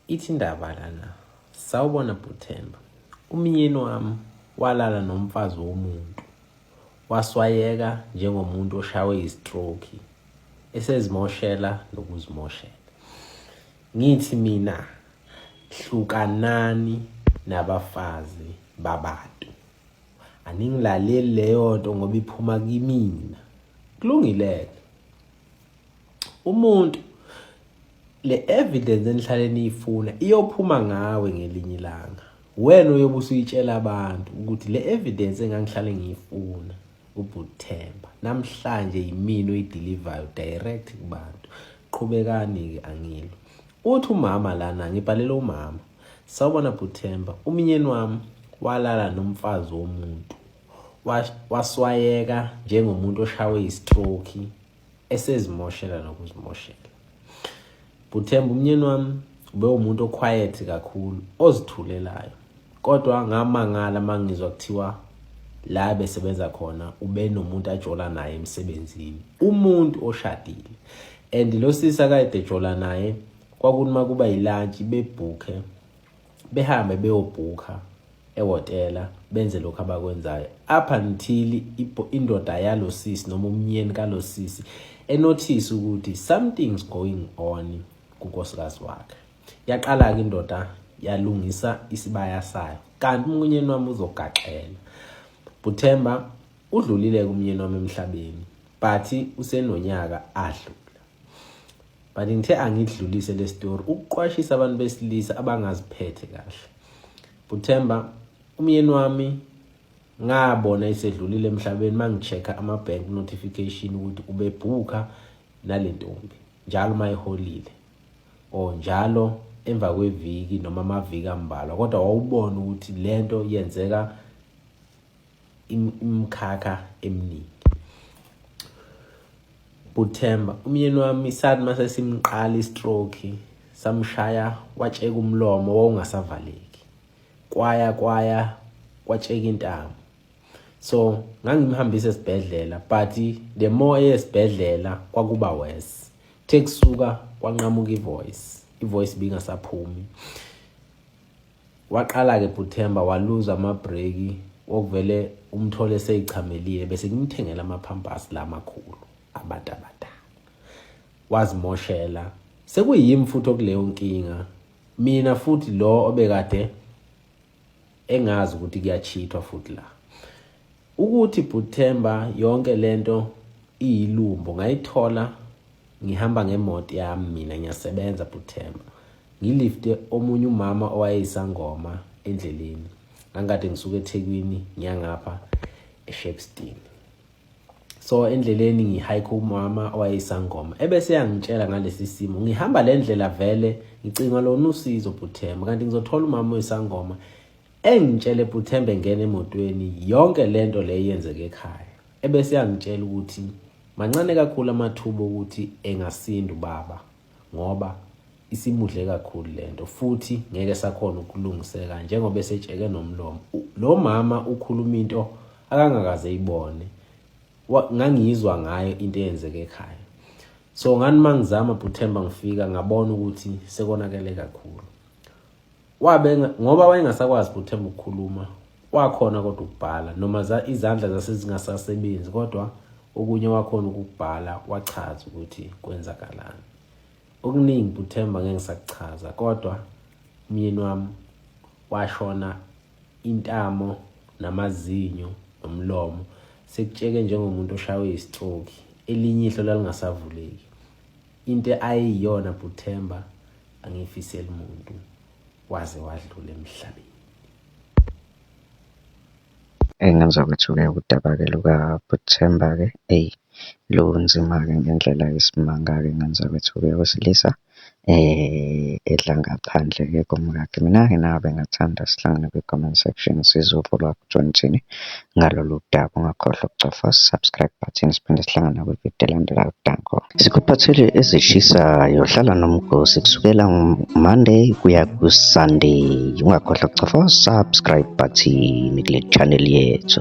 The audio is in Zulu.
ithi indaba lana sawubona bhuthemba umyeni wami walala nomfazi womuntu waswayeka njengomuntu oshawe istroke esezimoshela nokuzimoshela ngithi mina hlukanani nabafazi babantu aningilaleli leyo nto ngoba iphuma kimina kulungile-ke umuntu le evidence enihlale niyifuna iyophuma ngawe ngelinye ilanga wena uyobe usuyitshela abantu ukuthi le evidence engangihlale ngiyifuna ubuthemba namhlanje yimini oyidelivayo direct kubantu qhubekani-ke angilo uthi umama lana ngibhalele umama sawubona buthemba umnyeni wami walala nomfazi womuntu waswayeka njengomuntu oshawe istroke esezimoshela nokuzimoshela buthemba umnyeni wami ube umuntu oquiet kakhulu ozithulelayo kodwa ngamangala mangizwa kuthiwa la besebenza khona ube nomuntu ajola naye emsebenzini umuntu oshadile and lo sisi akade ejola naye kwakunoma kuba yilantshi bebhukhe behambe beyobhukha ehhotela benze lokhu abakwenzayo up until indoda yalo sisi noma umnyeni kalo sisi enothise ukuthi something's going on kunkosikazi wakhe yaqala-ke indoda yalungisa isibaya sayo kanti umnyeni wami uzogaxela buthemba udlulile-ke umnyeni wami emhlabeni but usenonyaka adlula but ngithe angidlulise le story ukuqwashisa abantu besilisa abangaziphethe kahle buthemba umyeni wami ngabona isedlulile emhlabeni mangichecka ama bank notification ukuthi ubebhuka nalentombi njalo mayiholile or njalo emva kweviki noma amaviki ambalwa kodwa wawubona ukuthi lento yenzeka imkhakha eminingi buthemba umyeni wami sathi mase simqala istroke samshaya watsheka umlomo wawungasavaleki kwaya kwaya kwatsheka intamo so ngangimhambisa esibhedlela but the more eyesibhedlela kwakuba worse kuthe kusuka kwanqamuka ivoice ivoice bingasaphumi Waqala-ke Bhuthemba waluza amabhreki okuvele umthole seyichamelile bese ngimthengela amaphampas la makhulu abantu abadala wazimoshela sekuyimi futhi okuleyo nkinga mina futhi lo obekade engazi ukuthi kuyachithwa futhi la Ukuthi bhuthemba yonke lento iyilumbo ngayithola ngihamba ngemoto yami mina ngiyasebenza bhuthemba ngilifte omunye umama owayeyisangoma endleleni ngangikade ngisuke ethekwini ngiyangapha eshepstein so endleleni ngihike umama owayeyisangoma ebese yangitshela ngalesi simo ngihamba le ndlela vele ngicinga lona usizo bhuthemba kanti ngizothola umama oyisangoma Engitshele Buthembe engena emotweni yonke lento le yenzeke ekhaya. Ebese yangitshela ukuthi mancane kakhulu amathuba ukuthi engasinda ubaba ngoba isimudle kakhulu lento futhi ngeke sakhona ukulungiseka njengoba esetsheke nomlomo. Lo mama ukhuluma into akangakaze ibone. Ngangiyizwa ngayo into eyenzeke ekhaya. So ngani mangizama Buthemba ngifika ngabona ukuthi sekonakele kakhulu. Wabe ngoba wayengasakwazi ukuthemba ukukhuluma, wakhona kodwa ukubhala noma za izandla zase zingasasebenzi kodwa okunye wakhona ukubhala wachaza ukuthi kwenzakalani. Okuningi buthemba ngeke ngisakuchaza kodwa umyeni wami washona intamo namazinyo nomlomo sekutsheke njengomuntu oshaywe istroke elinye ihlo lalingasavuleki into ayeyiyona buthemba angifiseli muntu waze wadlula emhlabeni engenza ukuthi-ke udaba-ke lukaButhemba-ke eyi lunzima-ke ngendlela yesimanga-ke ngenza ukuthi-ke wesilisa um edla ngaphandle-ke komkakhe mina-ke nabe ngathanda sihlangane kwi-comment section sizwe uvo lwakho uJohn Mthini. ngalolu daba. Ungakhohlwa ukucofa subscribe button siphinde sihlangane nakwividiyo elandelayo. Danko. Sikuphathele ezishisayo. Hlala nomgosi kusukela Monday kuya ku-Sunday. Ungakhohlwa ukucofa subscribe button kule channel yethu.